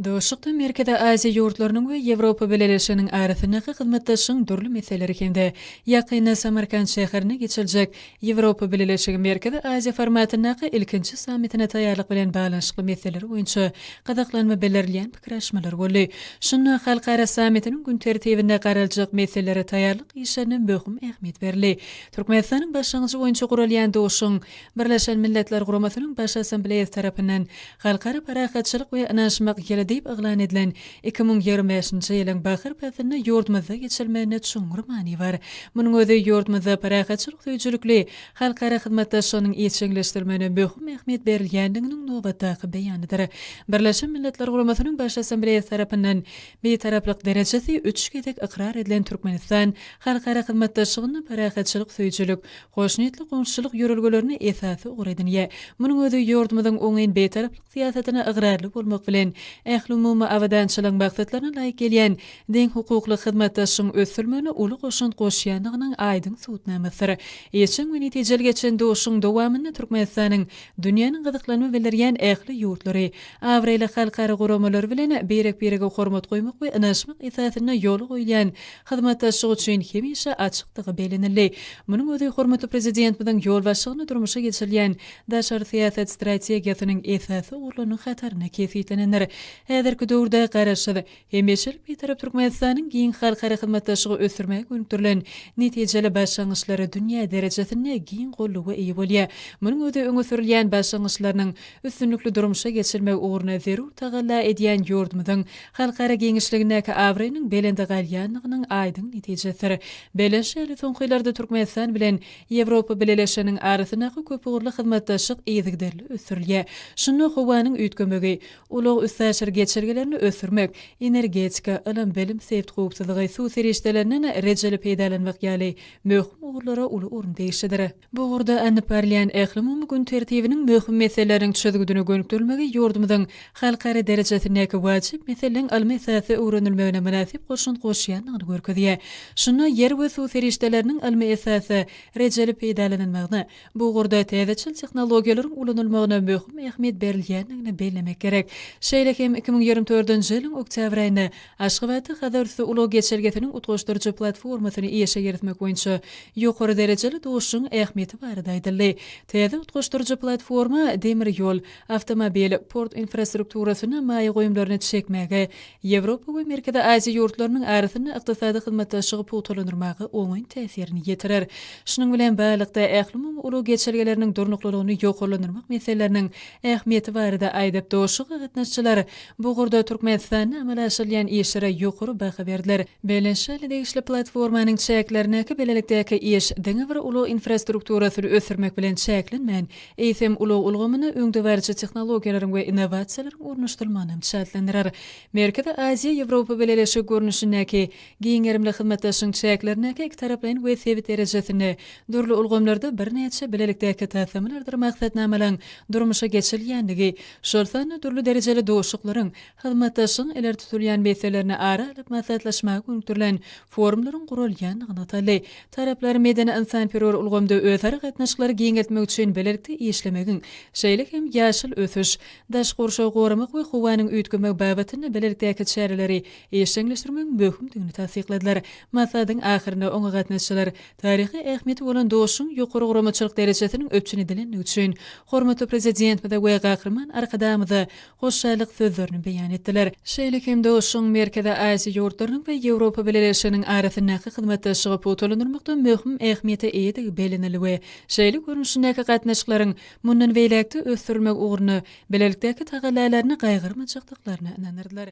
Duşuşykda Merkezi Aziýa ýurtlarynyň we Ýewropa Bileleşiginiň arasyndaky hyzmatdaşlygyň dürli meseleleri hem-de ýakynda Samarkant şäherinde geçiriljek Ýewropa Bileleşigi-Merkezi Aziýa formatyndaky ilkinji sammitine taýýarlyk bilen baglanyşykly meseleler boýunça gyzyklanma bildirilýän pikir alyşmalar boldy. Şunda halkara sammitiniň gün tertibinde garaljak meselelere taýýarlyk işlerine möhüm ähmiýet berildi. Türkmenistanyň başlangyjy boýunça guralýan duşuşygyň Birleşen Milletler Guramasynyň Baş Assambleýasy tarapyndan Halkara parahatçylyk we ynanyşmak ýyly diýip yglan edilen iki müň ýigrimi bäşinji ýylyň bahar paslynda ýurdumyzda geçirilmeginde çuňňur many bar. Munuň özi ýurdumyzda parahatçylyk söýüjilikli halkara hyzmatdaşlygynyň işjeňleşdirilmegine möhüm ähmiýet berilýändiginiň nobatdaky beýanydyr. Birleşen Milletler Guramasynyň Baş Assambleýasy tarapyndan Bitaraplyk derejesi üç gezek ykrar edilen Türkmenistan halkara hyzmatdaşlygynda parahatçylyk söýüjilik, Hoşniýetli goňşuçylyk ýörelgelerini esasy ugur edinýär. Munuň özi ýurdumyzyň oňyn bitaraplyk syýasatyna ygrarly bolmak bilen, ählumumy abadançylygyň maksatlaryna laýyk gelýän deňhukukly hyzmatdaşlygyň ösdürilmegine uly goşant goşýandygynyň aýdyň subutnamasydyr. Işjeň we netijeli geçen duşuşygyň dowamynda Türkmenistanyň dünýäniň gyzyklanma bildirýän ähli ýurtlary, abraýly halkara guramalary bilen birek-birege hormat goýmak we ynanyşmak esasynda ýola goýulýan hyzmatdaşlyk üçin hemişe açykdygy bellenildi. Munuň özi hormatly Prezidentimiziň ýolbaşçylygynda durmuşa geçirilýän daşary syýasat strategiýasynyň esasy ugurlarynyň hatarynda kesgitlenendir. Häzirki döwürde Garaşsyz, hemişelik Bitarap Türkmenistanyň giň halkara hyzmatdaşlygy ösdürmäge gönükdirilen netijeli başlangyçlary dünýä derejesinde giň golluwa eýe bolýar. Munuň özi öňe sürülýän başlangyçlarynyň üstünlikli durmuşa geçirilmegi ugrunda zerur tagalla edýän ýurdumyzyň halkara giňişligindäki abraýynyň belende galýandygynyň aýdyň netijesidir. Belent şaly soňky ýyllarda Türkmenistan bilen Ýewropa Bileleşiginiň arasyndaky köpugurly hyzmatdaşlyk yzygiderli ösdürilýär. Şunda howanyň üýtgemegi, ulag-üstaşyr geçelgelerini ösdürmek, energetika, ylym-bilim, sebit howpsuzlygy, suw serişdelerinden rejeli peýdalanmak ýaly möhüm ugurlara uly orun degişlidir. Bu ugurda alnyp barylýan ählumumy gün tertibiniň möhüm meseleleriniň çözgüdine gönükdirilmegi ýurdumyzyň halkara derejesindäki wajyp meseleleriň ylmy esasda öwrenilmegine mynasyp goşant goşýandygyny görkezýär. Şunda ýer we suw serişdeleriniň ylmy esasda rejeli peýdalanylmagyna, bu ugurda täzeçil tehnologiýalaryň ulanylmagyna möhüm ähmiýet berilýändigini bellemek gerek. Şeýle hem iki müň ýigrimi dördünji ýylyň oktýabr aýynda Aşgabatda Hazarüsti ulag geçelgesiniň utgaşdyryjy platformasyny işe girizmek boýunça ýokary derejeli duşuşygyň ähmiýeti barada aýdyldy. Täze utgaşdyryjy platforma demir ýol, awtomobil, port infrastrukturasyna maýa goýumlaryny çekmäge, Ýewropa we Merkezi Aziýa ýurtlarynyň arasynda ykdysady hyzmatdaşlygy pugtalandyrmaga oňyn täsirini ýetirer. Şunuň bilen baglylykda, ählumumy ulag geçelgeleriniň durnuklylygyny ýokarlandyrmak meseleleriniň ähmiýeti barada aýdyp, duşuşyga gatnaşyjylar Bu ugurda Türkmenistanda amala aşyrylýan işlere ýokary baha berdiler. Belent şaly degişli platformanyň çäklerindäki bilelikdäki iş diňe bir ulag infrastrukturasyny ösdürmek bilen çäklenmän, eýsem, ulag ulgamyna öňdebaryjy tehnologiýalaryň we innowasiýalaryň ornaşdyrylmagyny hem çäklendirer. Merkezi Aziýa, Ýewropa Bileleşigi görnüşindäki giň gerimli hyzmatdaşlygyň çäklerindäki ikitaraplaýyn we sebit derejesinde dürli ulgamlarda birnäçe bilelikdäki taslamalardyr maksatnamalaryň durmuşa geçirilýändigi Şol sanda dürli derejeli duşuşyklaryň, hyzmatdaşlygyň ileri tutulýan meselelerini ara alyp maslahatlaşmaga gönükdirilen forumlaryň guralýandygy nygtaldy. Taraplar medeni-ynsanperwer ulgamda özara gatnaşyklary giňeltmek üçin bilelikde işlemegiň, şeýle hem ýaşyl ösüş, daşky gurşawy goramak we howanyň üýtgemegi babatynda bilelikdäki çäreleri işjeňleşdirmegiň möhümdigini tassykladylar. Maslahatyň ahyrynda oňa gatnaşyjylar Taryhy ähmiýeti bolan Doşuň ýokary guramaçylyk derejesiniň üpjün edilendigi üçin hormatly Prezidentimize we Gahryman Arkadagymyza hoşallyk sözlerini beýan etdiler. Şeýle hem Doşuň Merkezi Aziýa ýurtlarynyň we Ýewropa Bileleşiginiň arasyndaky hyzmatdaşlygy pugtalandyrmakda möhüm ähmiýete eýedigi bellenildi we şeýle görnüşindäki gatnaşyklaryň mundan beýläk-de ösdürilmegi ugrunda bilelikdäki tagallalaryny gaýgyrmajakdyklaryna ynandyrdylar.